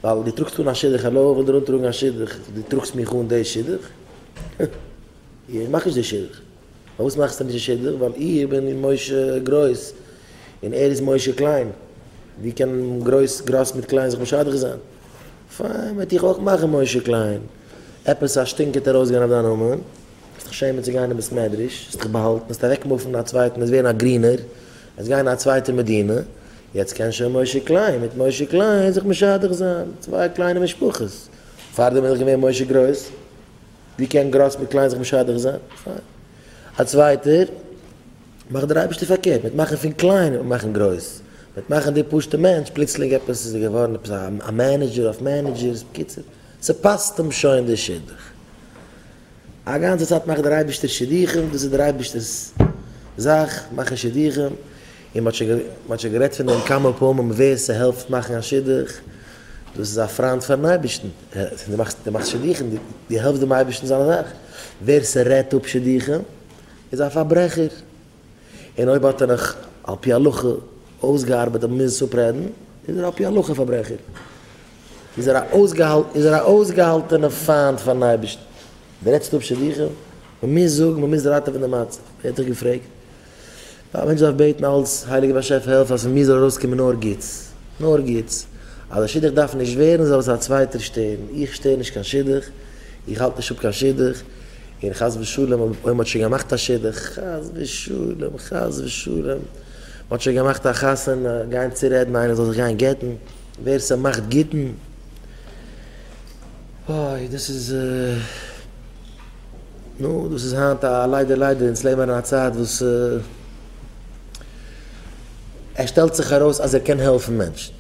ווייל דו טראגסט אן א שידוך, האלא, איך וויל דיר אנטראגן א שידוך, דו טראגסט מיך אן די שידוך? איך מאך נישט די שידוך. פארוואס מאכסטו נישט די שידוך? ווייל איך בין משה גרויס און ער איז משה קליין. ווי קען גרויס גראס מיט קליין זיך משדך זיין? פיין, וועט איך אויך מאכן משה קליין. עפעס א שטינק וועט ארויסגיין אויף דיין נאמען. וועסט דיך שעמען צו גיין אין בית מדרש, וועסט דיך באהאלטן, וועסט אוועקמופן אין א צווייטן, וועסט ווערן א גרינער. עס גיין א צווייטע מדינה, יעצט קען שוין משה קליין מיט משה קליין זיך משדך זיין, צוויי קליינע משפחות, פארדעם איז דאך געווען משה גרויס, ווי קען גרויס מיט קליין זיך משדך זיין, פיין, א צווייטער, מאכט דער אייבערשטער פארקערט, מיט מאכן פון קליין וועט מען מאכן גרויס, מיט מאכן די פשוטע מענטש פלוצלינג עפעס איז ער געווארן עפעס א מענעדזשער אויף מענעדזשערס, בקיצור, ס'פאסט אים שוין די שידוך. א גאנצע צייט מאכט דער אייבערשטער שידוכים, דאס איז דער אייבערשטער'ס זאך, מאכן שידוכים, און מען האט שוין גערעדט פון דעם כמה פעמים, ווער ס'העלפט מאכן א שידוך, דאס איז א פריינד פאר'ן אייבערשטן, דו מאכסט דו מאכסט שידוכים, דו העלפסט דעם אייבערשטן זיינע זאכן, ווער ס'רעדט אפ שידוכים, איז א פארברעכער. און אויב האט ער נאך על פי הלכה אויסגעארבעט די מוז אפרעדן, איז ער על פי הלכה א פארברעכער, איז ער א אויסגעהאלטענע פיינט פארן אייבערשטן. די רעדסט אפ שידוכים? מען מוז זאגן, מען מוז ראטעווען די מצב. ווער האט דיך געפרעגט? א מענטש דארף בעטן אלץ, הייליגער באשעפער העלף אז פון מיר זאל ארויסקומען נאר גוטס, נאר גוטס. אז די שידוך דארף נישט ווערן זאל עס א צווייטער שטערן, איך שטער נישט קיין שידוך, איך האלט נישט אפ קיין שידוך. און חס ושלום אויב מען האט שוין געמאכט א שידוך, חס ושלום, חס ושלום, מען האט שוין געמאכט א חתונה, גיין צורעדן איינער זאל זיך גיין גט'ן, ווער ס'מאכט גט'ן, אוי, דאס איז, נו, דאס איז היינט א ליידער ליידער, אונז לעבן אין א צייט וואס עס שטעלט זיך ארויס אז ער קען העלפן מענטשן.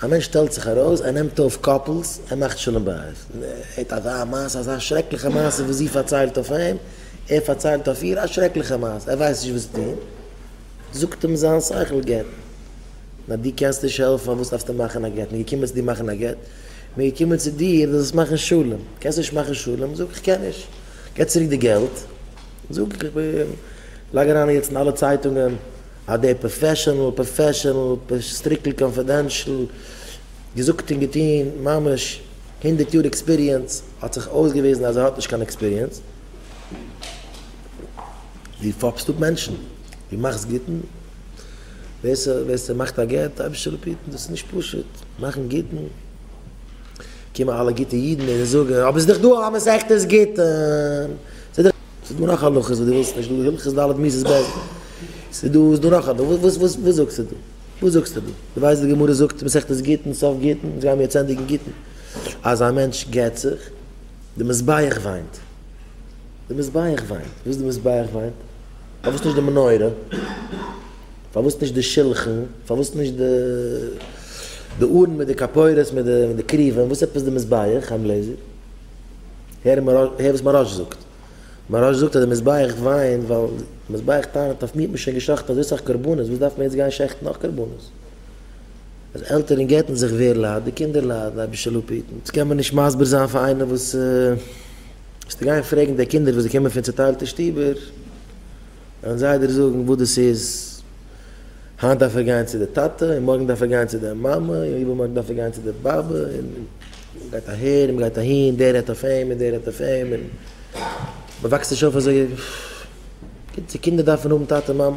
א מענטש שטעלט זיך ארויס, ער נעמט אויף קאפלס, ער מאכט שלום בית, ער הערט אזא מעשה, אזא שרעקליכע מעשה וואס זי פארציילט אויף אים, ער פארציילט אויף איר, א שרעקליכע מעשה, ער ווייסט נישט וואס צו טון, זאגט אים זיין שכל גט, נאר דו קענסט נישט העלפן, פארוואס דארפסטו מאכן א גט, מען איז געקומען צו דיר מאכן א גט, מען איז געקומען צו דיר דו זאלסט מאכן שלום, קענסט נישט מאכן שלום, זאג איך קען נישט, גיב צוריק די געלט, זאג איך לייג אריין יעצט אין אלע צייטונגען. אז דער פראפעשענעל פראפעשענעל סטריקלי קאנפידענשל געזאגט און געטון ממש הונדערט יאר עקספיריענס האט זיך אויסגעוויזן אז ער האט נישט קיין עקספיריענס דו פאפסט אפ מענטשן דו מאכסט גוטן ווער סע ווער סע מאכט א גט אייביג צו ריפיטן דאס איז נישט פשוט מאכן גוטן קומען אלע גוטע אידן און זאגן אבער ס'איז דאך דא א מסכת גיטין ס'איז דא נאך הלכות וואס דו ווילסט נישט דא הלכות ד' מידות בעסט ס'איז דא, ס'איז דא נאך א דא, וואס וואס וואס זאגסטו דא? וואס זאגסטו דא? דו ווייסט די גמרא זאגט מסכת גיטין סוף גיטין, אונז גיימיר יעצט ענדיגן גיטין, אז א מענטש גט זיך, די מזבח וויינט, די מזבח וויינט, וואס די מזבח וויינט? פארוואס נישט די מנורה? פארוואס נישט די שולחן? פארוואס נישט די די ארון מיט די כפרות מיט די קריבים? וואס עפעס די מזבח? חיים גלעזער, הער וואס מהרש א זאגט. מוהרא ש זאגט אז די מזבח וויינט ווייל די מזבח טענה'ט אויף מיר האט מען שוין געשאכטן אזוי סאך קרבנות וואס דארף מען יעצט גיין שעכטן נאך קרבנות? אז עלטערן גט'ן זיך ווער ליידט? די קינדער ליידן? אביש אללה פטרן? דאס קען מען נישט מסביר זיין פאר איינער וואס וועסטו גיין פרעגן די קינדער וואס זיי קומען פון צוטיילטע שטובער? וועלן זיי דיר זאגן וואס דאס איז, היינט דארף ער גיין צו די טאטע, און מארגן דארף ער גיין צו די מאמע, און איבערמארגן דארף ער גיין צו די באבע, און מען גייט אהער און מען גייט אהין, דער רעדט אויף אים און דער רעדט אויף אים, און מען וואקסט נישט אויף אזוי גוט, די קינדער דארפן האבן טאטע מאמע.